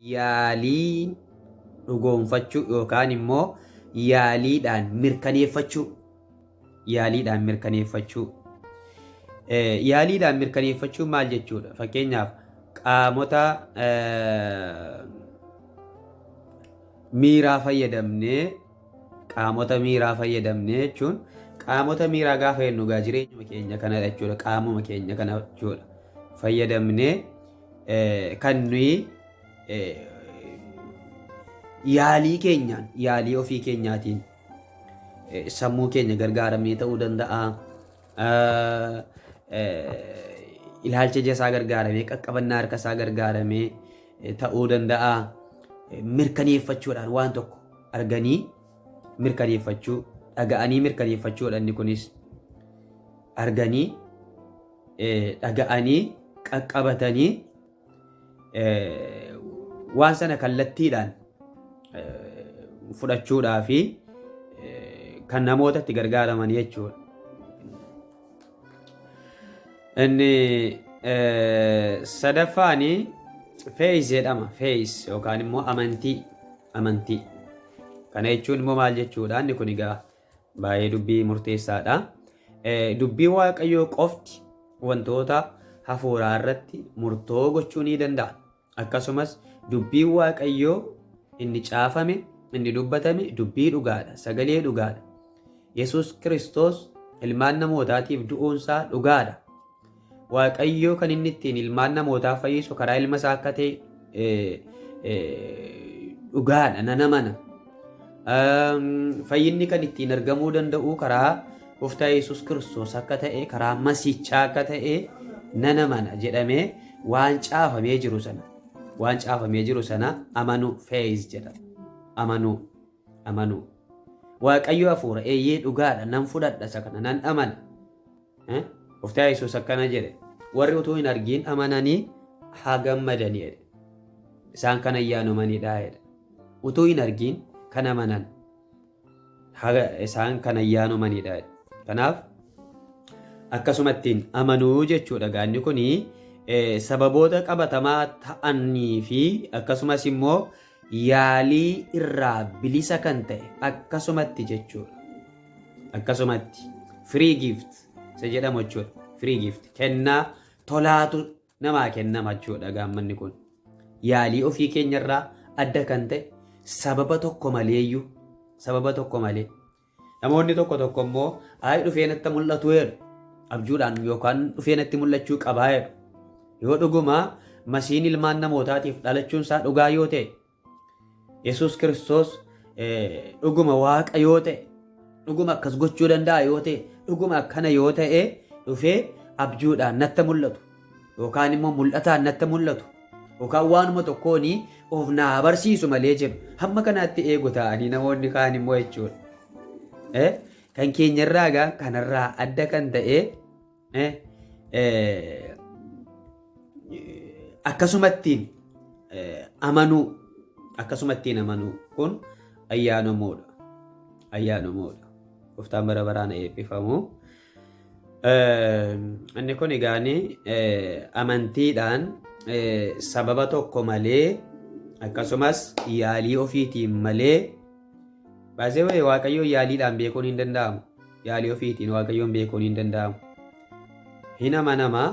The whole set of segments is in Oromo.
yaalii dhugoomfachuu yookaan immoo yaaliidhaan mirkaneeffachuu yaaliidhaan mirkaneeffachuu Eh, yaaliidhaan mirkaneeffachuu maal jechuudha fakkeenyaaf qaamota eh, miiraa fayyadamnee Qaamota miiraa fayyadamne jechuun qaamota miiraa gaafa jennu egaa jireenyuma keenya kana jechuudha. Qaamuma keenya kana jechuudha. Fayyadamnee eh, kan nuyi eh, yaalii keenyaan yaalii ofii keenyaatiin eh, sammuu keenya gargaaramnee ta'uu danda'a. Eh, eh, Ilaalcha ija isaa gargaaramee qaqqabannaa harka isaa gargaaramee eh, ta'uu danda'a. Eh, Mirkaneeffachuudhaan waan tokko arganii mirkaneeffachuu dhaga'anii mirkaneeffachuu dhanni kunis arganii dhaga'anii qaqqabatanii waan sana kallattiidhaan fudhachuudhaa fi kan namootatti gargaaraman jechuudha. Inni sadaffaani feeyis jedhama. Feeyis yookaan immoo amantii. Amantii. Kana jechuun immoo maal jechuudha? Inni kun egaa baay'ee dubbii murteessaadha. Dubbii Waaqayyoo qofti wantoota hafuuraa irratti murtoo gochuu ni danda'a. Akkasumas dubbiin Waaqayyoo inni caafame, inni dubbatame dubbii dhugaadha, sagalee dhugaadha. Yesuus Kiristoos ilmaan namootaatiif du'uunsaa dhugaadha. Waaqayyoo kan inni ittiin ilmaan namootaa fayyisu karaa ilma isaa akka ta'e dhugaadha, nan amana. Fayyinni kan ittiin argamuu danda'u karaa Gooftaa Yesuus Kiristoos akka ta'e, karaa Masiichaa akka ta'e nan amana jedhamee waan caafamee jiru sana waan caafamee jiru sana amanuu feeyiz jedhama. Amanuu amanuu Waaqayyo hafuura eeyyee dhugaadha nan fudhadha isa kana nan amana Eh? Gooftaa Yesuus akkana jedhe. Warri utuu hin argiin amananii haa gammadanii jedhe. Isaan kan ayyaanomanidha jedhe. Utuu hin argiin kan amanan haga isaan kan ayyaanomanidha jedhe. Kanaaf akkasumattiin amanuu jechuudha gaanni kuni eh, sababoota qabatamaa ta'anii fi akkasumas immoo yaalii irraa bilisa kan ta'e akkasumatti jechuudha. Akkasumatti free gift isa jedhamu jechuudha. Free gift kennaa tolaatu namaa kennama jechuudha gaammanni kun. Yaalii ofii keenyarraa adda kan ta'e sababa tokko maleeyyuu sababa tokko malee Namoonni tokko tokko immoo ayi dhufee natti mul'atu jedhu. Abjuudhaan yookaan dhufee natti mul'achuu qabaa jedhu. Yoo dhuguma masiin ilmaan namootaatiif dhalachuun isaa dhugaa yoo ta'e, Yesuus Kiristoos dhuguma waaqa yoo ta'e, dhuguma akkas gochuu danda'a yoo ta'e, dhuguma akkana yoo ta'e dhufee abjuudhaan natti mul'atu. yookaan immoo mul'ataan natti mul'atu yookaan waanuma tokkoon of naa barsiisu malee jedhu hamma kanaatti eegu ta'anii namoonni kaan immoo jechuudha. Eh, Kan keenyarraa egaa kanarraa adda kan ta'e eh, eh, akkasumattiin eh, amanuu akkasumattiin amanuu kun ayyaanomoodha. Ayyaanomoodha. Gooftaan bara baraan eebbifamu. Inni kun egaa amantiidhaan sababa tokko malee akkasumas yaalii ofiitiin malee baasee waaqayyoo yaaliidhaan beekuun hin danda'amu. Yaalii ofiitiin waaqayyoon beekuun hin danda'amu. Hin amanama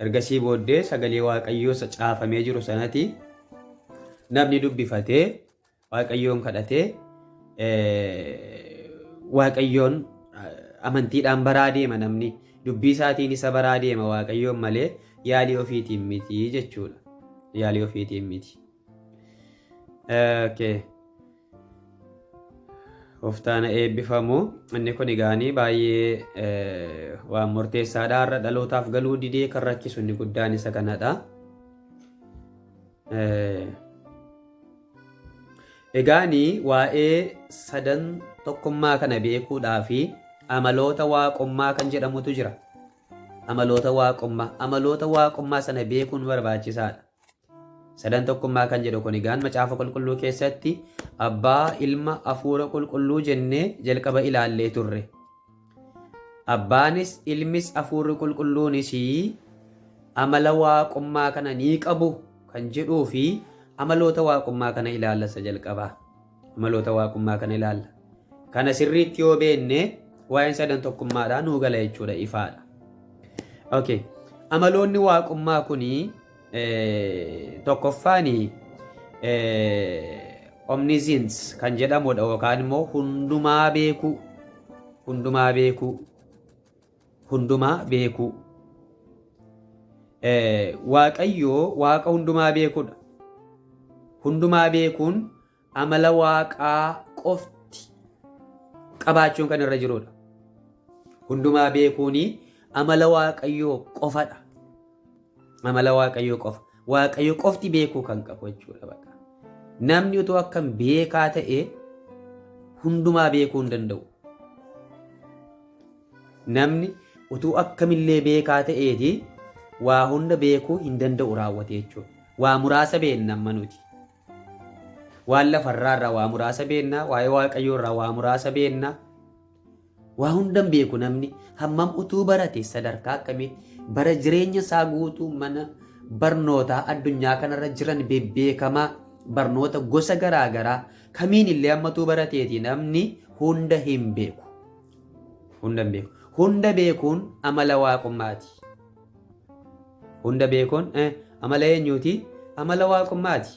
ergasii booddee sagalee waaqayyoo isa caafamee jiru sanati namni dubbifatee Waaqayyoon kadhatee Waaqayyoon amantiidhaan baraa deema namni. Dubbii isaatiin isa baraa deema Waaqayyoon malee yaalii ofiitiin miti jechuudha. Yaalii ofiitiin miti. Okay. Oftaana eebbifamu. Inni kun egaanii baay'ee waan murteessaadha. Har'a dhalootaaf galuu didee kan rakkisu inni guddaan isa kanadha. Egaani waa'ee sadan tokkummaa kana beekuudhaa fi amaloota waaqummaa kan jedhamutu jira. Amaloota waaqummaa. Amaloota waaqummaa sana beekuun barbaachisaadha. Sadan tokkummaa kan jedhu kun egaan macaafa qulqulluu keessatti abbaa ilma hafuura qulqulluu jennee jalqaba ilaallee turre. Abbaanis, Ilmis, Hafuurri Qulqulluunis amala waaqummaa kana ni qabu kan jedhuu fi amaloota waaqummaa kana ilaalla isa jalqabaa. Amaloota waaqummaa kana ilaalla. Kana sirriitti yoo beenne waa'een sadan tokkummaadhaa nuu gala jechuudha ifaadha. Okay. Amaloonni waaqummaa kuni Tokkoffaan omniscience kan jedhamudha yookaan immoo hundumaa beekuu hundumaa beekuu hundumaa beekuu waaqayyoo waaqa hundumaa beekudha hundumaa beekuun amala waaqaa qofti qabaachuun kan irra jirudha. Hundumaa beekuun amala waaqayyoo qofadha. Amala waaqayyoo qofa. Waaqayyo qofti beekuu kan qabu jechuudha bakka. Namni utuu akkam beekaa ta'e hundumaa beekuu hin danda'u. Namni utuu akkamillee beekaa ta'eeti waa hunda beekuu hin danda'u raawwate jechuudha. Waa muraasa beekna amma nuti. Waan lafa irraa irraa waa muraasa beenna, waa'ee Waaqayyoo irraa waa muraasa beenna. Waa hundan beeku namni hammam utuu barate sadarkaa akkamii bara jireenya isaa guutuu mana barnootaa addunyaa kanarra jiran bebbeekamaa barnoota gosa garaa garaa kamiin illee hammatuu barateeti namni hunda hin beeku. Hunda hin beeku. Hunda beekuun amala waaqummaati. Hunda beekoon eh, amala eenyuuti? Amala waaqummaati.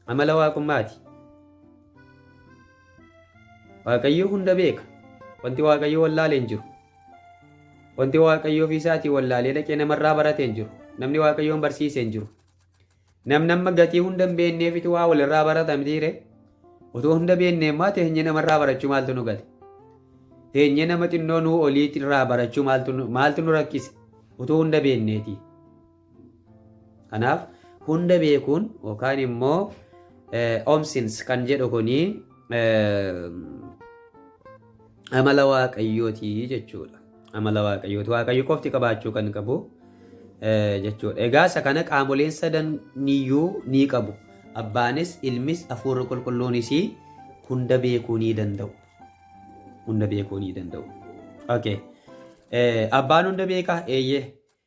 Amala waaqummaati. Waaqayyo hunda beeka. Wanti Waaqayyo wallaalee hin jiru. Wanti Waaqayyo ofii isaatii wallaalee dhaqee namarraa baratee hin jiru. Namni Waaqayyoon barsiisee hin jiru. Namni amma gatii hunda hin beekneefitu waa walirraa barata mitiire. Otoo hunda beeknee immaa teenyee namarraa barachuu maaltu nu gale? Teenyee nama xinnoo nuu olii irraa barachuu maaltu nu- maaltu nu rakkise? Otoo hunda beekneeti. Kanaaf hunda beekuun yookaan immoo eh, omsins kan jedhu kuni eh, amala waaqayyooti jechuudha. Amala waaqayyooti. Waaqayyo qofti qabaachuu kan qabu eh, jechuudha. Egaa isa kana qaamoleen sadan niyyuu ni qabu. Abbaanis, ilmis, hafuurri qulqulluunis hunda beekuu ni danda'u. Hunda beekuu ni danda'u. Okay. Eh, Abbaan hunda beekaa? Eeyyee.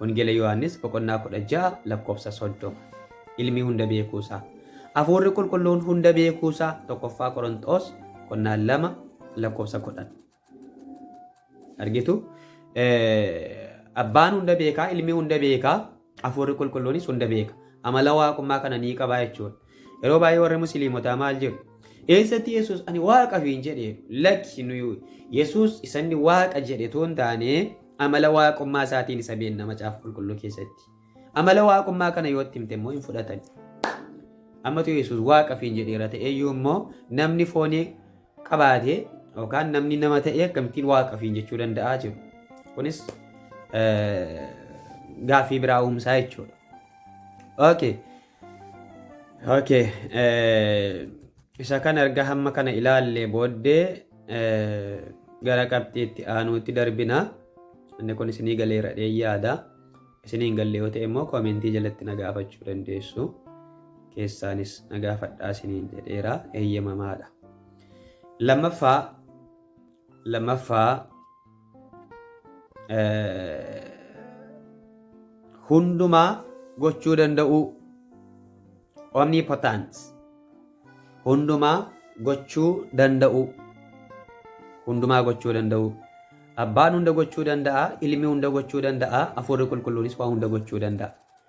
Wangeela Yohaannis boqonnaa 16 lakkoofsa 30. Ilmi hunda beekuu isaa. Hafuurri qulqulluun hunda beekuu isaa 1ffaa Qoronxoos qonnaan 2 lakkoofsa 10. Argitu? Abbaan hunda beekaa, ilmi hunda beekaa, hafuurri qulqulluunis hunda beeka. Amala waaqummaa kana ni qabaa jechuudha. Yeroo baay'ee warri musliimotaa maal jedhu? Eessatti Yesuus ani waaqa fiin jedhe lakki nuyi Yesuus isanni waaqa jedhe tuun taanee Amala Waaqummaa isaatiin isa beenna Macaafa Qulqulluu keessatti. Amala Waaqummaa kana yoo itti himte immoo hin fudhatan. Ammatu Yesuus Waaqa fiin jedheera ta'eyyuu immoo namni foonii qabaate yookaan namni nama ta'e akkamittiin Waaqa fiin jechuu danda'aa jiru. Kunis gaaffii biraa uumsaa jechuudha. Okay. Okay. Isa kan erga hamma kana ilaallee booddee gara qabxii itti aanuutti darbina. Inni kun isinii galeera jedheen yaada. Isinii hin galle yoo ta'e immoo koomentii jalatti na gaafachuu dandeessu. Keessaanis na gaafadhaa isiniin jedheera eeyyamamaadha. Lammaffaa Lammaffaa hundumaa gochuu danda'uu omnipotent hundumaa gochuu danda'uu hundumaa gochuu danda'uu abbaan hunda gochuu danda'a ilmi hunda gochuu danda'a afuurri qulqulluunis waa hunda gochuu danda'a.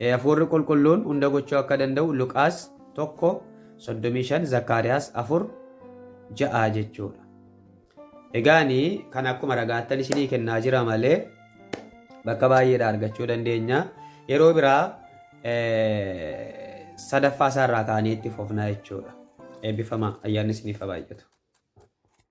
Hafuurri Qulqulluun hunda gochuu akka danda'u Luqaas 1, 35, Zakkaariyaas 4, 6 jechuudha. Egaani kan akkuma ragaattan isinii kennaa jira malee bakka baay'eedha argachuu dandeenya. Yeroo biraa sadaffaa isaarraa kaanee itti fufna jechuudha. Eebbifamaa ayyaanni isiniif haa baay'atu.